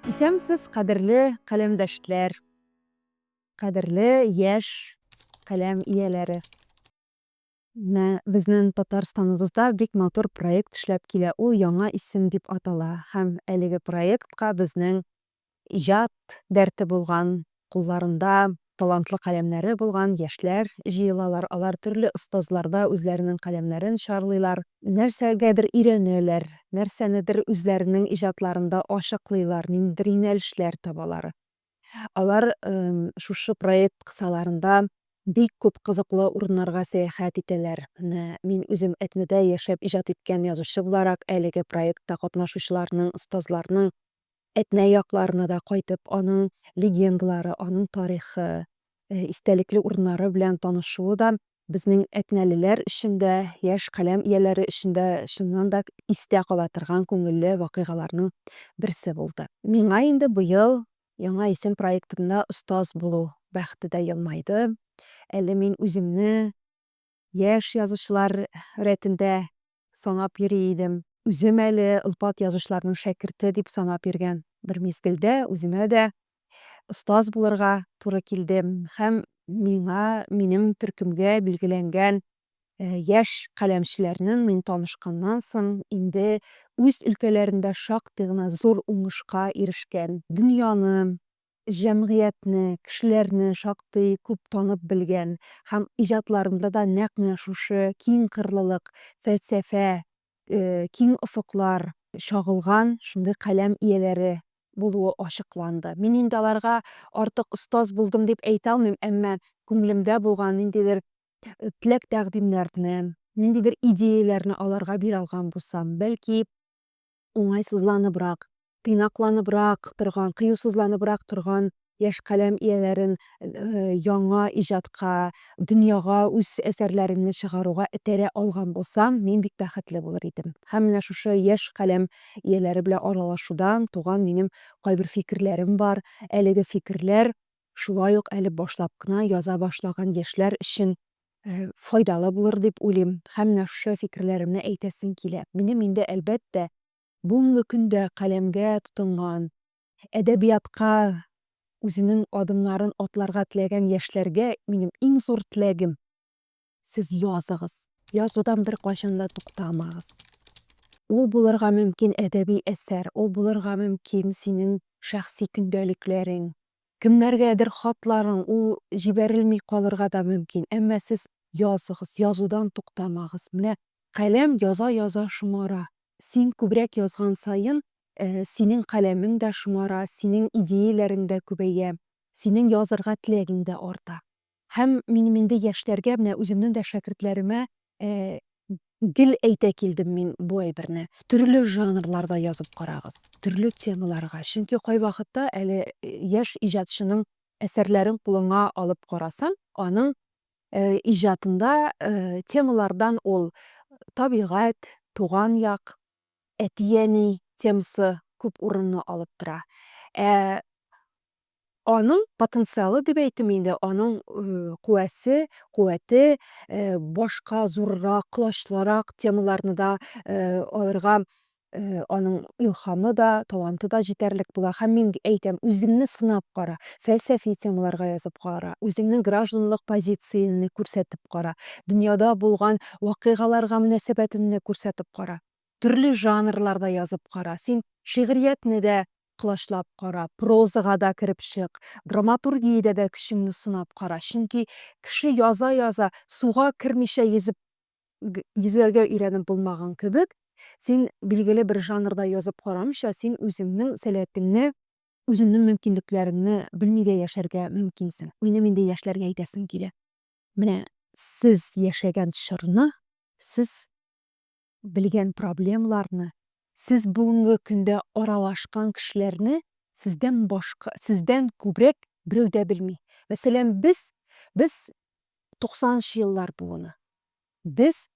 Исәнмесез, кадерле каләмдәшләр, кадерле яшь каләм ияләре. Менә безнең Татарстаныбызда бик матур проект эшләп килә, ул Яңа исем дип атала һәм әлеге проектка безнең иҗат дәрте булган, кулларында талантлы каләмнәре булган яшьләр җыелалар, алар төрле остазларда үзләренең каләмнәрен чарлыйлар, нәрсәгәдер өйрәнәләр, нәрсәнедер үзләренең иҗатларында ачыклыйлар, ниндидер юнәлешләр табалар. Алар шушы проект кысаларында бик күп кызыклы урыннарга сәяхәт итәләр. Менә мин үзем Әтнәдә яшәп иҗат иткән язучы буларак, әлеге проектта катнашучыларның, остазларның Әтнә якларына да кайтып, аның легендалары, аның тарихы, истәлекле урыннары белән танышуы да безнең әтнәлеләр өчен дә, яшь каләм ияләре өчен дә чыннан да истә кала торган күңелле вакыйгаларның берсе булды. Миңа инде быел Яңа исем проектында остаз булу бәхете дә елмайды. Әле мин үземне. Яшь язучылар рәтендә санап йөри идем. Үзем әле олпат язучыларның шәкерте дип санап йөргән. Бер мизгелдә үземә дә остаз булырга туры килде һәм миңа минем төркемгә билгеләнгән яшь каләмчеләрнең мин танышканнан соң инде үз өлкәләрендә шактый гына зур уңышка ирешкән, дөньяны Җәмгыятьне, кешеләрне шактый күп танып белгән һәм иҗатларында да нәкъ менә шушы киң кырлылык, фәлсәфә, киң офыклар чагылган шундый каләм ияләре булуы ачыкланды. Мин инде аларга артык остаз булдым дип әйтә алмыйм, әмма күңелемдә булган ниндидер теләк-тәкъдимнәрне, ниндидер идеяләрне аларга бирә алган булсам, бәлки, уңайсызланыбрак, тыйнакланыбрак торган, кыюсызланыбрак торган яшь каләм ияләрен яңа иҗатка, дөньяга үз әсәрләреңне чыгаруга этәрә алган булсам, мин бик бәхетле булыр идем. Һәм менә шушы яшь каләм ияләре белән аралашудан туган минем кайбер фикерләрем бар. Әлеге фикерләр шулай ук әле башлап кына яза башлаган яшьләр өчен файдалы булыр дип уйлыйм һәм нәхше фикерләремне әйтәсем килә. Минем инде, әлбәттә, бүгенге көндә каләмгә тотынган, әдәбиятка үзенең адымнарын атларга теләгән яшьләргә минем иң зур теләгем, сез языгыз, язудан беркайчан да туктамагыз. Ул булырга мөмкин әдәби әсәр, ул булырга мөмкин синең шәхси көндәлекләрең, Кемнәргәдер хатларың ул җибәрелми калырга да мөмкин, әмма сез языгыз, язудан туктамагыз. Менә каләм яза-яза шомара. Син күбрәк язган саен, синең каләмең дә шомара, синең идеяләрең дә күбәя, синең язырга теләгең дә арта. Һәм минем инде яшьләргә, менә үземнең дә шәкертләремә гел әйтә килдем мин бу әйберне. Төрле жанрларда язып карагыз, төрле темаларга. Чөнки кайвакытта әле яшь иҗатчының әсәрләрен кулыңа алып карасаң, аның иҗатында темалардан ул табигать, туган як, әти-әни темасы күп урынны алып тора. Ә Аның потенциалы дип әйтим инде, аның куәсе, куәте башка зуррак, колачлырак темаларны да алырга Э, аның илхамы да, таланты да җитәрлек була. Һәм мин әйтәм, үзеңне сынап кара, фәлсәфи темаларга язып кара, үзеңнең гражданлык позицияңне күрсәтеп кара, дөньяда булган вакыйгаларга мөнәсәбәтеңне күрсәтеп кара. Төрле жанрларда язып кара. Син шигъриятне дә колачлап кара, прозага да кереп чык, драматургиядә дә көчеңне сынап кара. Чөнки кеше яза-яза, суга кермичә йөзеп йөзәргә өйрәнеп булмаган кебек, син билгеле бер жанрда язып карамыйча, син үзеңнең сәләтеңне, үзеңнең мөмкинлекләреңне белми дә яшәргә мөмкинсең. Минем инде яшьләргә әйтәсем килә. Менә сез яшәгән чорны сез белгән проблемаларны, сез бүгенге көндә аралашкан кешеләрне сездән башка, сездән күбрәк берәү дә белми. Мәсәлән, без, без 90 нчы еллар буыны. Без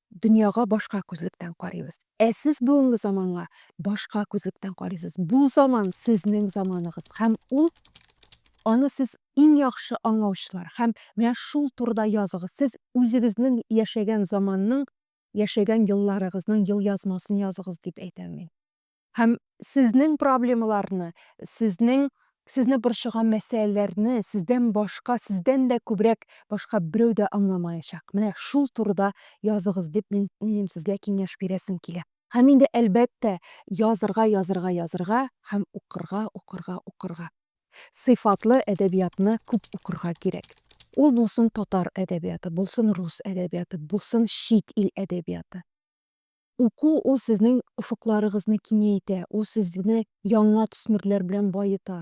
дөньяга башка күзлектән карыйбыз. Ә сез бүгенге заманга башка күзлектән карыйсыз. Бу заман сезнең заманыгыз һәм ул аны сез иң яхшы аңлаучылар. Һәм менә шул турыда языгыз. Сез үзегезнең яшәгән заманның яшәгән елларыгызның елъязмасын языгыз дип әйтәм мин. Һәм сезнең проблемаларны, сезнең сезне борчыган мәсьәләләрне сездән башка, сездән дә күбрәк башка берәү дә аңламаячак. Менә шул турыда языгыз дип мин, минем сезгә киңәш бирәсем килә. Һәм инде, әлбәттә, язырга, язырга, язырга һәм укырга, укырга, укырга. Сыйфатлы әдәбиятны күп укырга кирәк. Ул булсын татар әдәбияты, булсын рус әдәбияты, булсын чит ил әдәбияты. Уку ул сезнең офыкларыгызны киңәйтә, ул сезне яңа төсмерләр белән баета.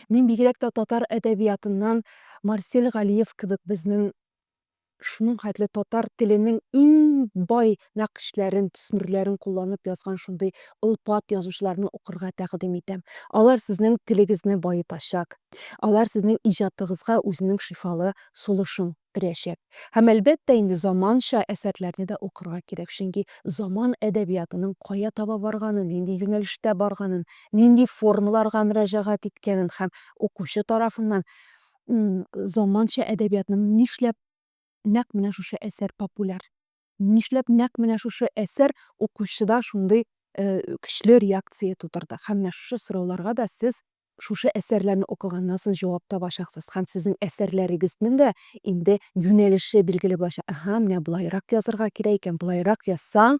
Мин бигрәк тә татар әдәбиятыннан Марсель Галиев кебек безнең Шуның хәтле татар теленең иң бай нәкышләрен, төсмерләрен кулланып язган шундый олпат язучыларны укырга тәкъдим итәм. Алар сезнең телегезне баетачак, алар сезнең иҗатыгызга үзенең шифалы сулышын өрәчәк. Һәм, әлбәттә инде, заманча әсәрләрне дә укырга кирәк, чөнки заман әдәбиятының кая таба барганын, нинди юнәлештә барганын, нинди формаларга мөрәҗәгать иткәнен һәм укучы тарафыннан заманча әдәбиятның нишләп нәкъ менә шушы әсәр популяр? Нишләп нәкъ менә шушы әсәр укучыда шундый көчле реакция тудырды? Һәм менә шушы сорауларга да сез шушы әсәрләрне укыганнан соң җавап табачаксыз. Һәм сезнең әсәрләрегезнең дә инде юнәлеше билгеле булачак. Әһә, менә болайрак язырга кирәк икән, болайрак язсаң,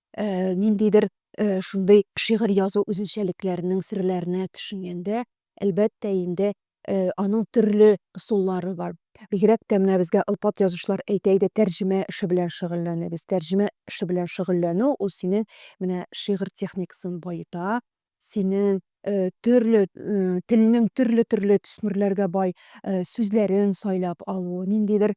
ниндидер шундый шигырь язу үзенчәлекләренең серләренә төшенгәндә, әлбәттә инде, аның төрле ысуллары бар. Бигрәк тә менә безгә алпат язучылар әйтә иде, тәрҗемә эше белән шөгыльләнегез. Тәрҗемә эше белән шөгыльләнү ул синең менә шигырь техникасын баета, Синең төрле телнең төрле-төрле төсмерләргә бай сүзләрен сайлап алу, ниндидер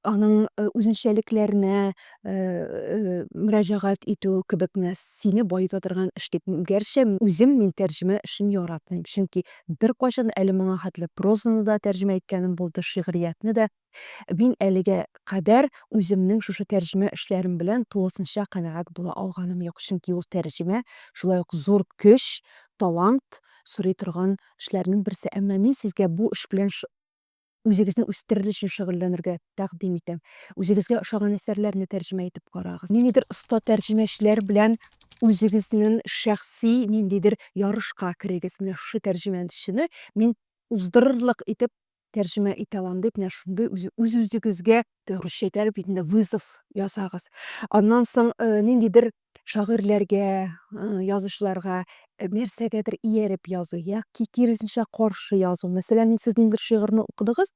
аның үзенчәлекләренә мөрәҗәгать итү кебекне сине баета торган эш дип. Гәрчә үзем мин тәрҗемә эшен яратмыйм, чөнки беркайчан әле моңа хәтле прозаны да тәрҗемә иткәнем булды, шигъриятне дә. Мин әлегә кадәр үземнең шушы тәрҗемә эшләрем белән тулысынча канәгать була алганым юк, чөнки ул тәрҗемә, шулай ук зур көч, талант сорый торган эшләрнең берсе. Әмма мин сезгә бу эш белән үзегезне үстерер өчен шөгыльләнергә тәкъдим итәм. Үзегезгә ошаган әсәрләрне тәрҗемә итеп карагыз. Ниндидер оста тәрҗемәчеләр белән үзегезнең шәхси ниндидер ярышка керегез. Менә шушы тәрҗемәчене мин уздырырлык итеп тәрҗемә итә алам дип, менә шундый үз-үзегезгә русча әйтәләр бит инде, вызов ясагыз. Аннан соң ниндидер шагыйрьләргә, язучыларга нәрсәгәдер ияреп язу яки киресенчә каршы язу. Мәсәлән, сез ниндидер шигырьне укыдыгыз,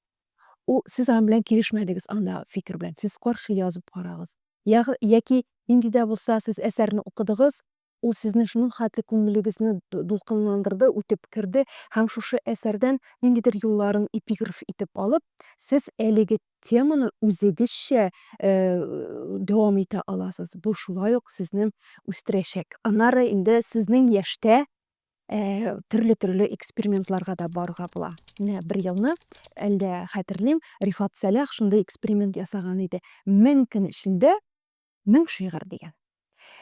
ул сез аның белән килешмәдегез, анда фикер белән, сез каршы язып карагыз. Яки нинди дә булса сез әсәрне укыдыгыз, Ул сезнең шуның хәтле күңелегезне дулкынландырды, үтеп керде һәм шушы әсәрдән ниндидер юлларын эпиграф итеп алып, сез әлеге теманы үзегезчә дәвам итә аласыз. Бу шулай ук сезне үстерәчәк. Аннары инде сезнең яшьтә төрле-төрле экспериментларга да барырга була. Менә бер елны, әлдә хәтерлим, Рифат Сәлах шундый эксперимент ясаган иде. Мең көн эчендә Мең шигырь дигән.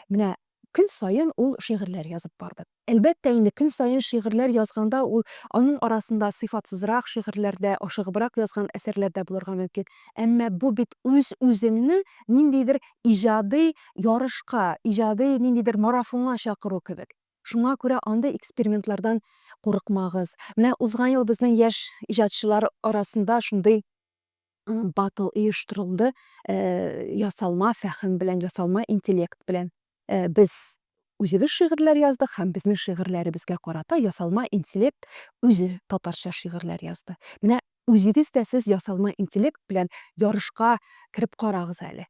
Менә көн саен ул шигырьләр язып барды. Әлбәттә инде, көн саен шигырьләр язганда ул, аның арасында сыйфатсызрак шигырьләр дә, ашыгыбрак язган әсәрләр дә булырга мөмкин. Әмма бу бит үз-үзеңне ниндидер иҗади ярышка, иҗади ниндидер марафонга чакыру кебек. Шуңа күрә андый экспериментлардан курыкмагыз. Менә узган ел безнең яшь иҗатчылар арасында шундый Батл оештырылды ясалма фәһем белән, ясалма интеллект белән. Без үзебез шигырьләр яздык һәм безнең шигырьләребезгә карата ясалма интеллект үзе татарча шигырьләр язды. Менә үзегез дә сез ясалма интеллект белән ярышка кереп карагыз әле.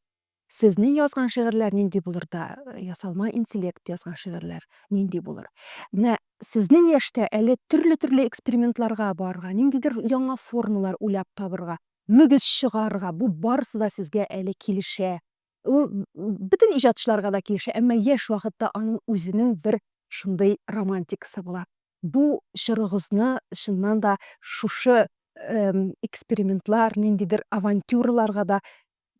Сезнең язган шигырьләр нинди булыр да, ясалма интеллект язган шигырьләр нинди булыр? Менә сезнең яшьтә әле төрле-төрле экспериментларга барырга, ниндидер яңа формалар уйлап табырга, мөгез чыгарырга, бу барысы да сезгә әле килешә. Ул бөтен иҗатчыларга да килешә, әмма яшь вакытта аның үзенең бер шундый романтикасы була. Бу чорыгызны чыннан да шушы экспериментлар, ниндидер авантюраларга да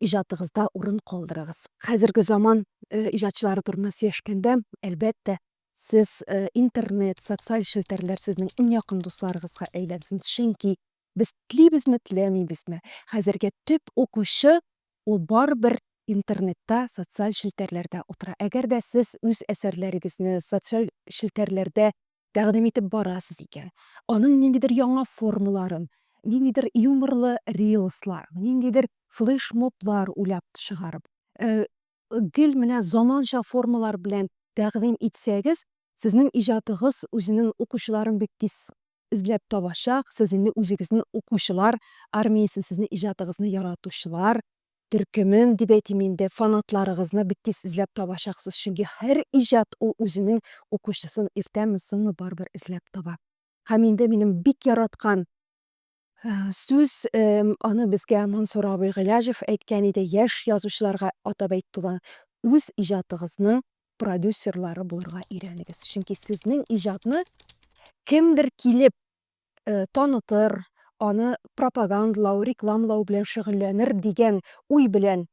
иҗатыгызда урын калдырыгыз. Хәзерге заман иҗатчылары турында сөйләшкәндә, әлбәттә, сез интернет, социаль челтәрләр сезнең иң якын дусларыгызга әйләнсен, чөнки без телибезме, теләмибезме, хәзергә төп укучы ул барыбер интернетта, социаль челтәрләрдә утыра. Әгәр дә сез үз әсәрләрегезне социаль челтәрләрдә тәкъдим итеп барасыз икән, аның ниндидер яңа формаларын, ниндидер юморлы рилслар, ниндидер флешмоблар уйлап чыгарып, гел менә заманча формалар белән тәкъдим итсәгез, сезнең иҗатыгыз үзенең укучыларын бик тиз эзләп табачак, сез инде үзегезнең укучылар армиясен, сезнең иҗатыгызны яратучылар төркемен дип әйтим инде, фанатларыгызны бик тиз эзләп табачаксыз, чөнки һәр иҗат ул үзенең укучысын иртәме, соңмы барыбер эзләп таба. Һәм инде минем бик яраткан сүз, аны безгә Мансур абый Гыйләҗев әйткән иде, яшь язучыларга атап әйтте ул, үз иҗатыгызның продюсерлары булырга өйрәнегез, чөнки сезнең иҗатны кемдер килеп танытыр, аны пропагандлау, рекламлау белән шөгыльләнер дигән уй белән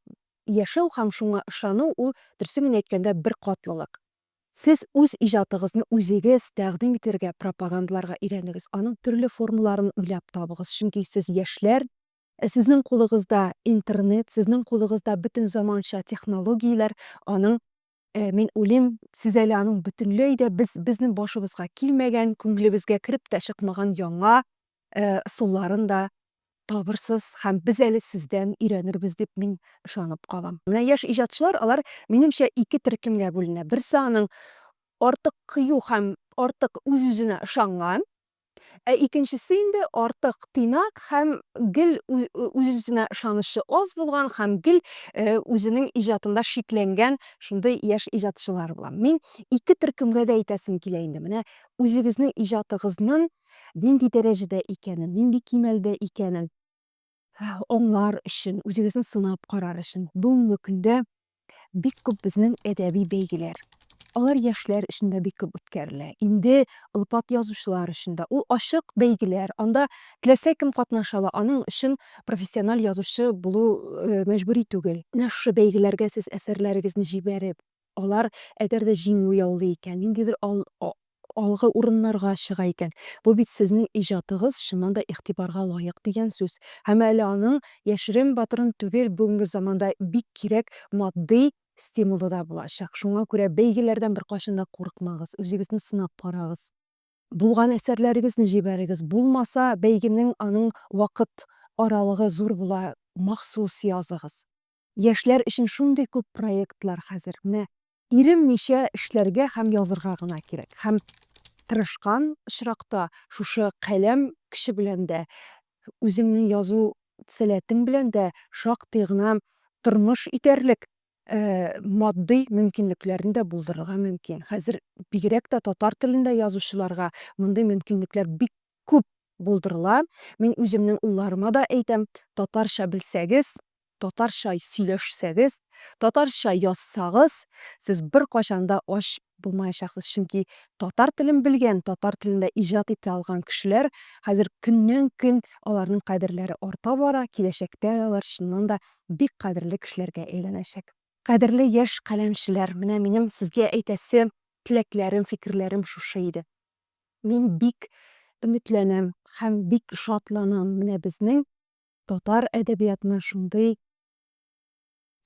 яшәү һәм шуңа ышану ул, дөресен генә әйткәндә, беркатлылык. Сез үз иҗатыгызны үзегез тәкъдим итәргә, пропагандларга өйрәнегез, аның төрле формаларын уйлап табыгыз, чөнки сез яшьләр, сезнең кулыгызда интернет, сезнең кулыгызда бөтен заманча технологияләр, аның Э, мин уйлыйм, сез әле аның бөтенләй дә без безнең башыбызга килмәгән, күңелебезгә кереп тә чыкмаган яңа э, ысулларын да табырсыз һәм без әле сездән өйрәнербез дип мин ышанып калам. Менә яшь иҗатчылар, алар минемчә ике төркемгә бүленә. Берсе аның артык кыю һәм артык үз-үзенә ышанган, Ә икенчесе инде артык тыйнак һәм гел үз-үзенә ышанычы аз булган һәм гел үзенең иҗатында шикләнгән шундый яшь иҗатчылар була. Мин ике төркемгә дә әйтәсем килә инде. Менә үзегезнең иҗатыгызнын нинди дәрәҗәдә икәнен, нинди кимәлдә икәнен. аңлар өчен, үзегезне сынап карар өчен бүгенге көндә бик күп безнең әдәби бәйгеләр. Алар яшьләр өчен дә бик күп үткәрелә. Инде олпат язучылар өчен дә. Ул ачык бәйгеләр. Анда теләсә кем катнаша ала. Аның өчен профессиональ язучы булу мәҗбүри түгел. Менә шушы бәйгеләргә сез әсәрләрегезне җибәреп, Алар, әгәр дә җиңү яулый икән, ниндидер ал, а, алгы урыннарга чыга икән, бу бит сезнең иҗатыгыз чыннан да игътибарга лаек дигән сүз. Һәм әле аның, яшерен-батырын түгел, бүгенге заманда бик кирәк матди стимулы да булачак. Шуңа күрә бәйгеләрдән беркайчан да курыкмагыз, үзегезне сынап карагыз. Булган әсәрләрегезне җибәрегез, булмаса, бәйгенең, аның вакыт аралыгы зур була, махсус языгыз. Яшьләр өчен шундый күп проектлар хәзер. Менә иреммичә эшләргә һәм язырга гына кирәк. Һәм тырышкан очракта, шушы каләм көче белән дә, үзеңнең язу сәләтең белән дә шактый гына тормыш итәрлек матдый мөмкинлекләрне дә булдырырга мөмкин. Хәзер бигрәк тә татар телендә язучыларга мондый мөмкинлекләр бик күп булдырыла. Мин үземнең улларыма да әйтәм, татарча белсәгез, татарча сөйләшсәгез, татарча язсагыз, сез беркайчан да ач булмаячаксыз, чөнки татар телен белгән, татар телендә иҗат итә алган кешеләр хәзер көннән-көн аларның кадерләре арта бара, киләчәктә алар чыннан да бик кадерле кешеләргә әйләнәчәк. Кадерле яшь каләмчеләр, менә минем сезгә әйтәсе теләкләрем, фикерләрем шушы иде. Мин бик өметләнәм һәм бик шатланам, менә безнең татар әдәбиятына шундый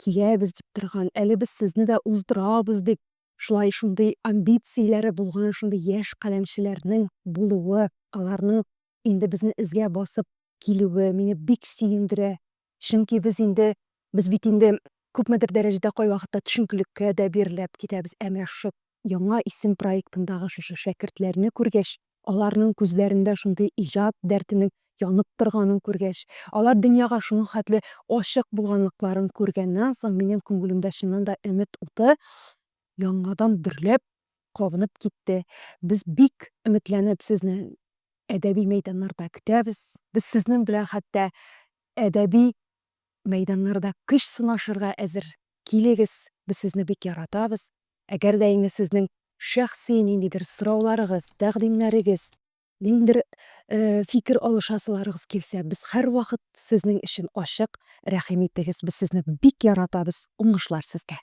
киләбез дип торган, әле без сезне дә уздырабыз дип, шулай шундый амбицияләре булган шундый яшь каләмчеләрнең булуы, аларның инде безне эзгә басып килүе мине бик сөендерә. Чөнки без инде, без бит инде күпмедер дәрәҗәдә кайвакытта төшенкелеккә дә бирелеп китәбез, ә менә шушы Яңа исем проектындагы шушы шәкертләрне күргәч, аларның күзләрендә шундый иҗат дәртенең янып торганын күргәч, алар дөньяга шуның хәтле ачык булганлыкларын күргәннән соң, минем күңелемдә чыннан да өмет уты яңадан дөрләп, кабынып китте. Без бик өметләнеп сезне әдәби мәйданнарда көтәбез. Без сезнең белән хәтта әдәби Мәйданнарда көч сынашырга әзер. Килегез, без сезне бик яратабыз. Әгәр дә инде сезнең шәхси ниндидер сорауларыгыз, тәкъдимнәрегез, ниндидер фикер алышасыларыгыз килсә, без һәрвакыт сезнең өчен ачык, рәхим итегез, без сезне бик яратабыз, уңышлар сезгә!